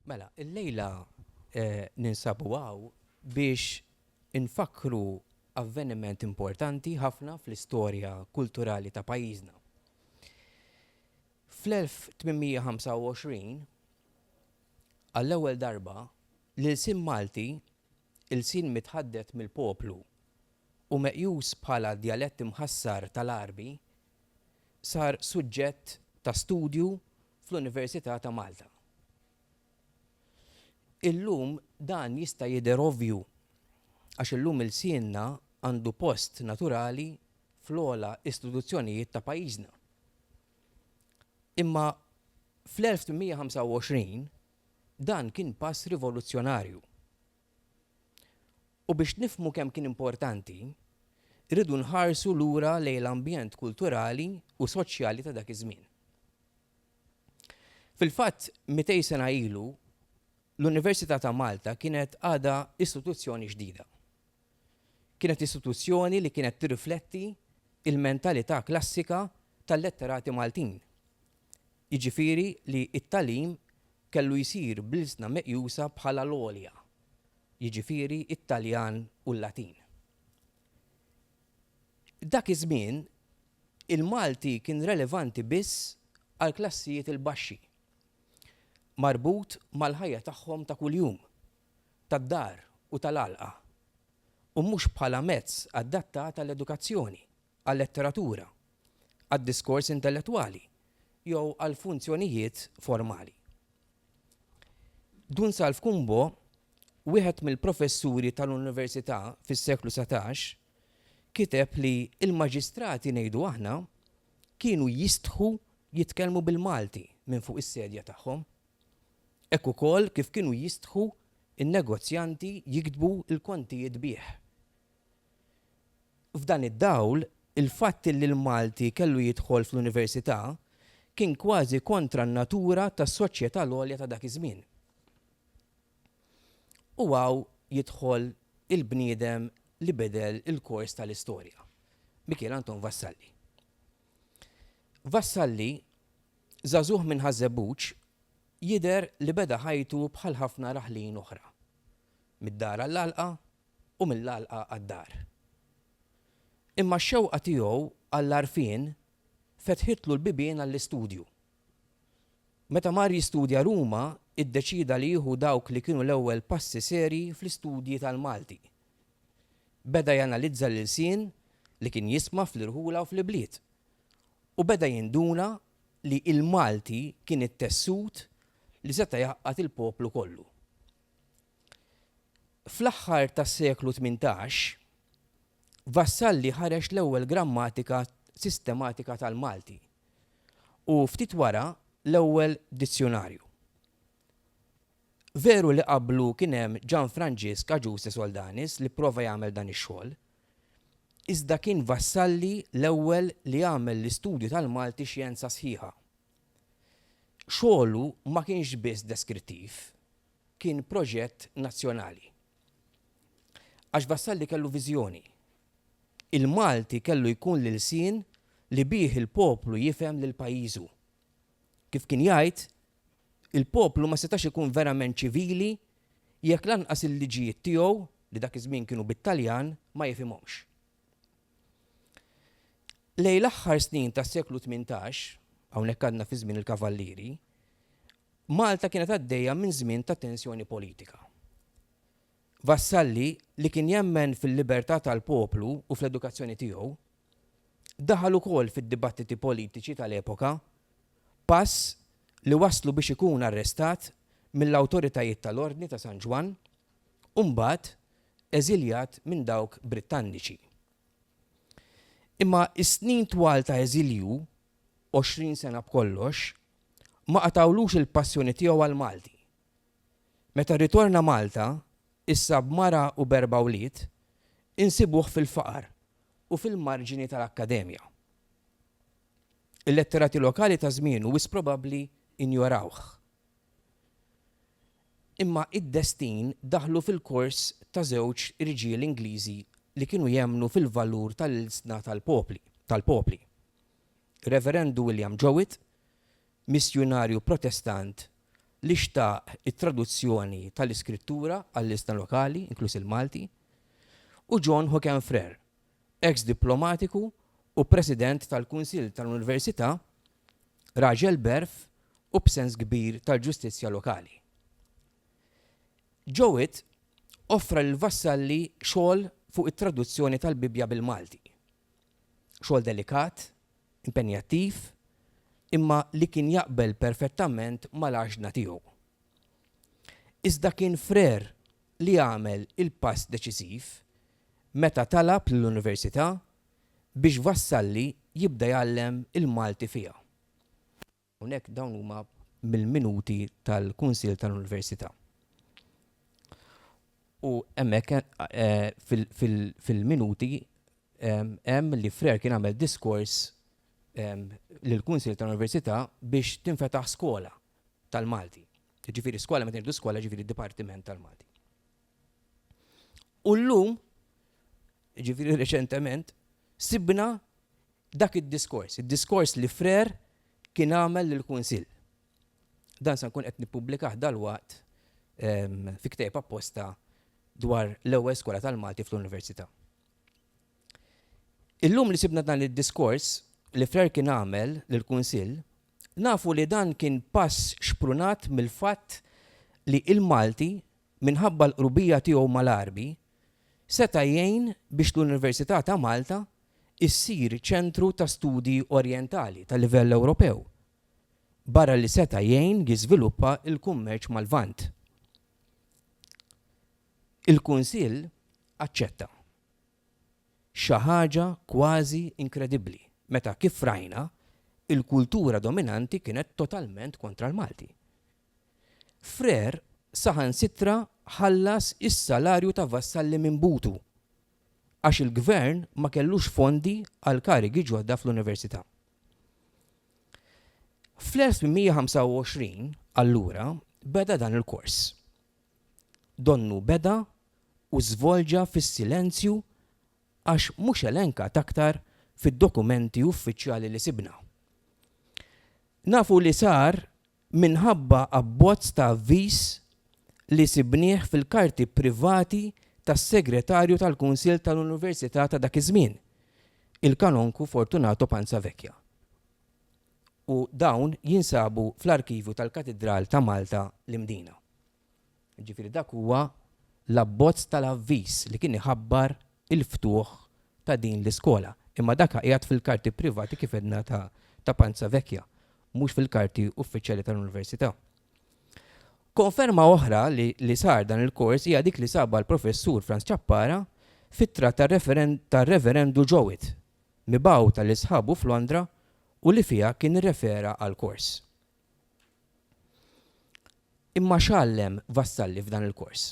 Mela, illejla ninsabu hawn biex infakkru avveniment importanti ħafna fl-istorja kulturali ta' pajjiżna. Fl-1825, għall-ewwel darba, l-ilsien Malti, ilsien mitħaddet mill-poplu u meqjus bħala djalett imħassar tal-Għarbi, sar suġġett ta' studju fl-Università ta' Malta. Illum dan jista' jidher ovvju għax illum ilsienna għandu post naturali fl-ogħla istituzzjonijiet ta' pajjiżna. Imma fl-1825 dan kien pass rivoluzzjonarju. U biex nifhmu kemm kien importanti, irridu nħarsu lura lejn l-ambjent kulturali u soċjali ta' dak iż-żmien. Fil-fatt, mitej sena ilu, l-Università ta' Malta kienet għadha istituzzjoni ġdida. Kienet istituzzjoni li kienet tirrifletti l-mentalità klassika tal-letterati Maltin, jiġifieri li t-tagħlim kellu jsir bl-ilsna meqjusa bħala l-għolja. jiġifieri t-Taljan u l-Latin. Dak iż-żmien, il-Malti kien relevanti biss għall-klassijiet il-baxxi, marbut mal-ħajja tagħhom ta' kuljum, tad-dar u tal-għalqa, u mhux bħala mezz adattat għall-edukazzjoni. għal-letteratura, għad-diskors intellettwali jew għal funzjonijiet formali. Dun Salv Kumbo, wieħed mill-professuri tal-Università fis-seklu satax, kiteb li l-maġistrati ngħidu aħna kienu jistħu jitkellmu bil-Malti minn fuq is-sedja tagħhom, hekk ukoll kif kienu jistħu n-negozjanti jiktbu l-kontijiet bih. F'dan id-dawl, il-fatt li l-Malti kellu jidħol fl-Università kien kważi kontra n-natura tas-soċjetà l-għolja ta' dak iż-żmien. U hawn jidħol il-bniedem li bidel il-kors tal-istorja, Mikiel Anton Vassalli. Vassalli, żagħżugħ minn Ħaż-Żebbuġ, jidher li beda ħajtu bħal ħafna raħlin oħra, mid-dar għall-għalqa, u mill-għalqa għad-dar. Imma x-xewqa tiegħu għall-għarfien fetħitlu l-bibien għall-istudju. Meta mar jistudja Ruma, iddeċieda li jieħu dawk li kienu l-ewwel passi serji fl-istudji tal-Malti. Beda janalizza l-ilsien li kien jisma' fl-irħula u fl-ibliet, u beda jinduna li l-Malti kien it-tessut li seta' jgħaqqad il-poplu kollu. Fl-aħħar tas-seklu tmintax, Vassalli ħareġ l-ewwel grammatika sistematika tal-Malti u, ftit wara, l-ewwel dizzjunarju. Veru li qablu kien hemm Ġan Franġisk Agiuse Soldanis li pprova jagħmel dan ix-xogħol, iżda kien Vassalli l-ewwel li għamel l-istudju tal-Malti xjenza sħiħa. Xogħlu ma kienx biss deskrittiv. kien proġett nazzjonali. Għax Vassalli kellu viżjoni. Il-Malti kellu jkun l-ilsien li bih il-poplu jifhem lil pajjiżu. Kif kien jgħid, il-poplu ma setax ikun verament ċivili jekk lanqas il-liġijiet tiegħu, li dak iż-żmien kienu bit-Taljan, ma jifhimhomx. Lejn l-aħħar snin tas-seklu tmintax, hawnhekk għadna fi żmien il-Kavallieri, Malta kienet għaddejja minn żmien ta' tensjoni politika. Vassalli, li kien jemmen fil-libertà tal-poplu u fl-edukazzjoni tiegħu, daħal ukoll fid-dibattiti politiċi tal-epoka, pass li wasslu biex ikun arrestat mill-awtoritajiet tal-Ordni ta' San Ġwann u mbagħad eżiljat minn dawk Brittanniċi. Imma s-snin twal ta' eżilju 20 sena b'kollox, ma qatgħulux il-passjoni tiegħu għall-Malti. Meta rritorna Malta, issa b'mara u b'erba' wlied, insibuh fil-faqar u fil-marġini tal-Akkademja. Il-letterati lokali ta' żmienu wis probabbli injorawh. Imma id-destin daħlu fil-kors ta' żewġ irġiel Ingliżi li kienu jemmnu fil-valur tal-ilsna tal-popli. Reverendu William Jowett, missjunarju Protestant li xtaq it-traduzzjoni tal-Iskrittura għall-ilsna lokali, inkluż il-Malti, u John Hocken Frere, eks diplomatiku u President tal-Kunsill tal-Università, raġel b'għerf u b'sens kbir tal-ġustizzja lokali. Jowett offra lill-vassalli xogħol fuq it-traduzzjoni tal-Bibbja bil-Malti. Xogħol delikat, impenjattiv, imma li kien jaqbel perfettament mal-għaġna tiegħu. Iżda kien frer li għamel il-pass deċiżiv meta talab lill-Università biex wassalli jibda jgħallem il-Malti fiha. U hekk dawn huma mill-minuti tal-Kunsill tal-Università. U hemmhekk fil-minuti hemm li Frère kien għamel diskors lill-Kunsill tal-Università biex tinfetaħ skola tal-Malti. Jiġifieri skola meta ngħidu skola jiġifieri dipartiment tal-Malti. U llum, jiġifieri reċentement, sibna Dak id-diskors, id-diskors li Frère kien għamel lill-Kunsill. Dan se nkun qed nippubblikah dalwaqt fi ktieb apposta dwar l-ewwel skola tal-Malti fl-Università. Illum li sibna dan id-diskors li Frère kien għamel lill-Kunsill, nafu li dan kien pass xprunat mill-fatt li l-Malti minħabba l-qrubija tiegħu mal-Għarbi, seta' jgħin biex l-Università ta' Malta ssir ċentru ta' studji orjentali ta' livell Ewropew, barra li seta' jgħin jiżviluppa l-kummerċ mal-Lvant. Il-Kunsill aċċetta. Xi ħaġa kważi inkredibbli meta, kif rajna, il-kultura dominanti kienet totalment kontra l-Malti. Frère saħansitra ħallas is-salarju ta' Vassalli minn butu għax il-Gvern ma kellux fondi għal karigi ġodda fl-Università. Fl-1825, allura, beda dan il-kors. Donnu beda u żvolġa fis-silenzju għax mhux elenkat aktar fid-dokumenti uffiċjali li sibna. Nafu li sar minħabba abbozz ta' avviż li sibnieh fil-karti privati tas-Segretarju tal-Kunsill tal-Università ta' dak iż-żmien, il-Kanonku Fortunato Panzavecchia, u dawn jinsabu fl-arkivju tal-Katidral ta' Malta, l-Imdina. Jiġifieri dak huwa l-abbozz tal-avviż li kien iħabbar il-ftuħ ta' din l-iskola. Imma dak qiegħed fil-karti privati kif għedna ta' ta' Panza Vecchia, mhux fil-karti uffiċjali tal-Università. Konferma oħra li li sar dan il-kors hija dik li sabha l-Professur Franz Ciappara f'ittra tar-Reverendu Jowett, mibgħuta lil sħabu f'Londra u li fiha kien irrefera għall-kors. Imma x'għallem Vassalli f'dan il-kors?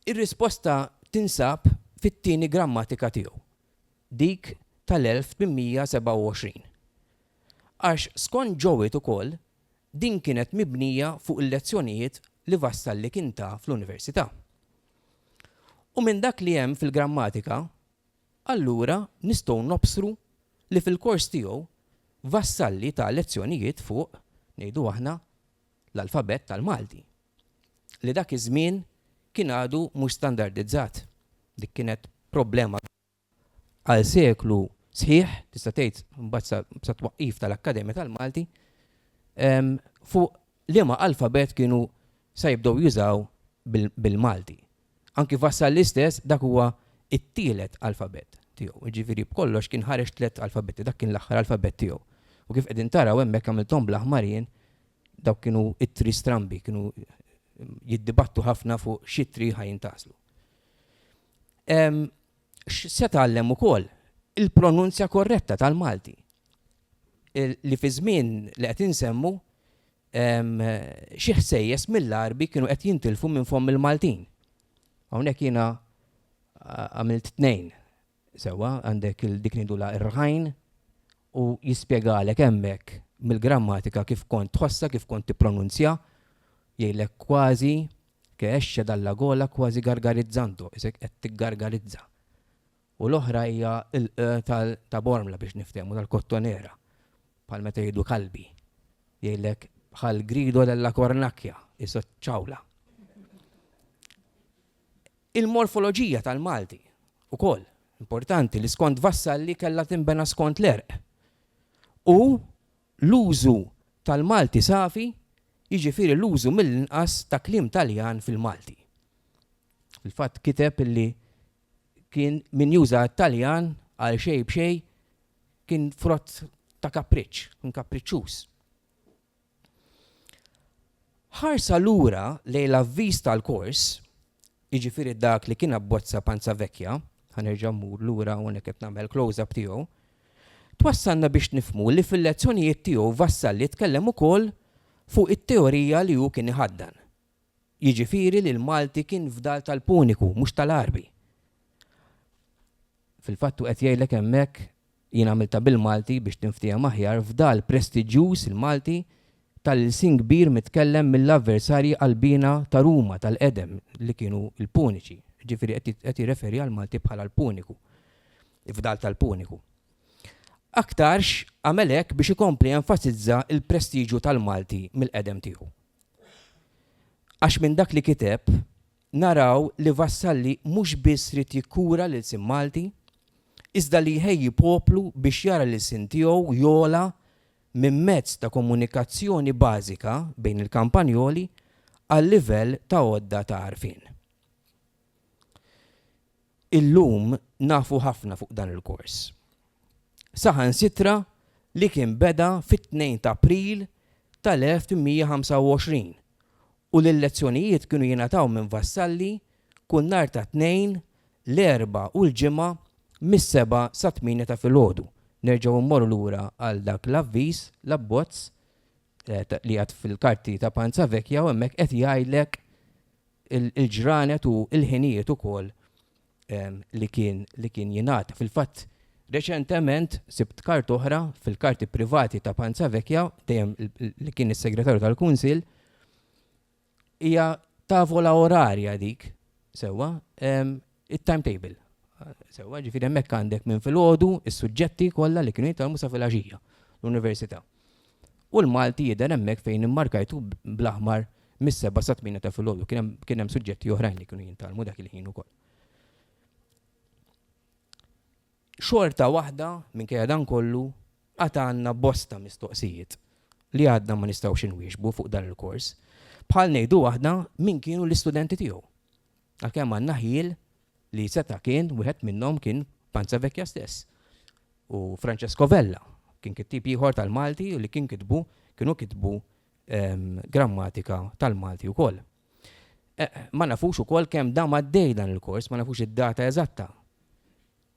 Ir-risposta tinsab fit-tieni grammatika tiegħu, dik tal-1827. Għax skont Jowett ukoll din kienet mibnija fuq il-lezzjonijiet li Vassalli kien ta fl-Università. U minn dak li hemm fil-grammatika Allura nistgħu nobsru li fil-kors tiegħu Vassalli ta lezzjonijiet fuq, ngħidu aħna, l-alfabett tal-Malti, li dak iż-żmien kien għadu mhux standardizzat. Dik kienet problema kbira. Għal seklu sħiħ, tista' tgħid mbagħad sat-twaqqif tal-Akkademja tal-Malti, fuq liema alfabett kienu sa jibdew jużaw bil-Malti. Anki Vassalli stess dak huwa t-tielet alfabett tiegħu, jiġifieri b'kollox kien ħareġ tliet alfabetti, dak kien l-aħħar alfabett tiegħu. U kif qegħdin taraw hemmhekk għamilthom bl-aħmar jien, dawk kienu ittri strambi, kienu jiddibattu ħafna fuq x'ittri ħa jintgħażlu. Se tgħallem ukoll il-pronunzja korretta tal-Malti li fiż-żmien li qed insemmu xi ħsejjes mill-Għarbi kienu qed jintilfu minn fomm il-Maltin. Hawnhekk jiena għamilt tnejn sewwa, għandek dik ngħidulha r-rħajn u jispjegalek hemmhekk mill-grammatika kif kont tħossha, kif kont tippronunzja, jgħidlek kważi che esce dalla gola quasi gargarizzando, isek qed tiggargarizza. u l-oħra hija l-q tal ta' Bormla biex niftehmu tal-Kottonera, bħal meta jgħidu Kalbi, jgħidlek bħal Grido della Cornacchia, iso ċ-ċawla. Il-morfoloġija tal-Malti ukoll importanti li skont Vassalli kellha tinbena skont l-għerq. U l-użu tal-Malti safi jiġifieri l-użu mill-inqas ta' kliem Taljan fil-Malti. Fil-fatt kiteb illi kien min juża t-Taljan għal xejn b'xejn kien frott ta' kapriċċ, kien kapriċċuż. Ħarsa lura lejn l-avviż tal-kors, jiġifieri dak li kien abbozza Panza Vecchia, ħa nerġa' mmur lura hawnhekk qed nagħmel close-up tiegħu, twassalna biex nifhmu li fil-lezzjonijiet tiegħu Vassalli tkellem ukoll fuq it-teorija li hu kien iħaddan, jiġifieri li l-Malti kien fdal tal-Puniku mhux tal-Għarbi. Fil-fatt hu qed jgħidlek hemmhekk, jien għamiltha bil-Malti biex tinftiehem aħjar, fdal prestiġjuż il-Malti tal-ilsien kbir mitkellem mill-avversarji qalbiena ta' Ruma tal-qedem li kienu l-Puniċi, jiġifieri qed jirreferi għall-Malti bħala l-Puniku, fdal tal-Puniku. Aktarx għamel hekk biex ikompli jenfasizza l-prestiġju tal-Malti mill-qedem tiegħu. Għax minn dak li kiteb naraw li Vassalli mhux biss ried jikkura l-ilsien Malti, iżda li jħejji poplu biex jara l-ilsien tiegħu jogħla minn mezz ta' komunikazzjoni bażika bejn il-Kampanjoli għal livell ta' għodda ta' għarfien. Illum nafu ħafna fuq dan il-kors. Saħansitra li kien beda fit-tnejn ta' April tal-1825 u li l-lezzjonijiet kienu jingħataw minn vassalli kull nhar ta' Tnejn, l-Erbgħa u l-Ġimgħa mis-sebgħa sat-tmienja ta' filgħodu. Nerġgħu mmorru lura għal dak l-avviż, l-abbozz, li qiegħed fil-karti ta' Panza Vecchia u hemmhekk qed jgħidlek il-ġranet u l-ħinijiet ukoll li kien li kien jingħata. Fil-fatt reċentement sibt karta oħra fil-karti privati ta' Panza Vecchia, dejjem li kien is-Segretarju tal-Kunsill, hija tavola orarja dik, sewwa, it-timetable. Sewwa, ġifieri hemmhekk għandek minn filgħodu is-suġġetti kollha li kienu jitgħallmu sa filgħaxija l-università. U l-Malti jidher hemmhekk fejn immarkajtu bl-aħmar mis-seba' sa tmiena ta' filgħodu. Kien hemm suġġetti oħrajn li kienu jintgħallmu dak il-ħin ukoll. Xorta waħda minkejja dan kollu għad għandna bosta mistoqsijiet li għadna ma nistgħux inwieġbu fuq dan il-kors. Bħal ngħidu aħna min kienu l-istudenti tiegħu. Għalkemm għandna ħjiel li seta' kien wieħed minnhom kien Panza Vecchia stess. U Francesco Vella kien kittieb ieħor tal-Malti u li kien kitbu kienu kitbu ehm, grammatika tal-Malti wkoll. E, ma nafux ukoll kemm dam għaddej dan il-kors, ma nafux id-data eżatta.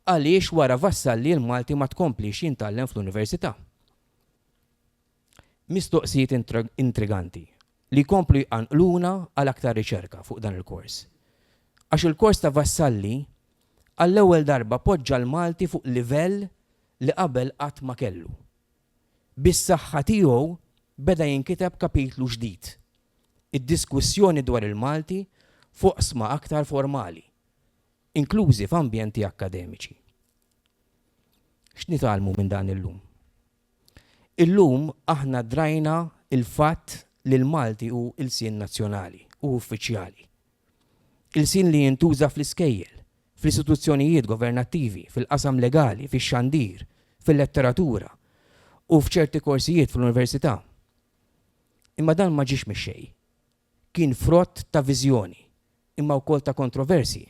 Għaliex wara Vassalli l-Malti ma tkomplix jintgħallem fl-università. Mistoqsijiet intriganti li jkomplu jqanqluna għal aktar riċerka fuq dan il-kors. Għax il-kors ta' Vassalli għall-ewwel darba poġġa l-Malti fuq livell li qabel qatt ma kellu. Bis-saħħa tiegħu beda jinkiteb kapitlu ġdid, id-diskussjoni dwar il-Malti f'oqsma aktar formali, inklużi f'ambjenti akkademiċi. X'nitgħallmu minn dan illum? Illum aħna drajna l-fatt li l-Malti hu ilsien nazzjonali u uffiċjali. Ilsien li jintuża fl-iskejjel, fl-istituzzjonijiet governattivi, fil-qasam legali, fix-xandir, fil-letteratura u f'ċerti korsijiet fl-università. Imma dan ma ġiex mix-xejn. kien frott ta' viżjoni, imma wkoll ta' kontroversji.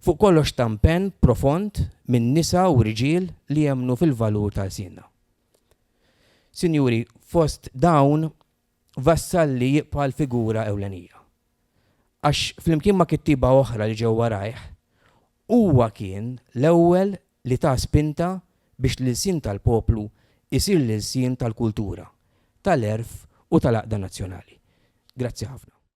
Fuq kollox ta' mpenn profond minn nisa u riġiel li jemmnu fil-valur ta' lsienna. Sinjuri, fost dawn Vassalli jibqa' l-figura ewlenija. Għax flimkien ma' kittieba oħra li ġew warajh, huwa kien l-ewwel li ta spinta biex l-ilsien tal-poplu jsir l-ilsien tal-kultura, tal-għerf u tal-għaqda nazzjonali. Grazzi ħafna.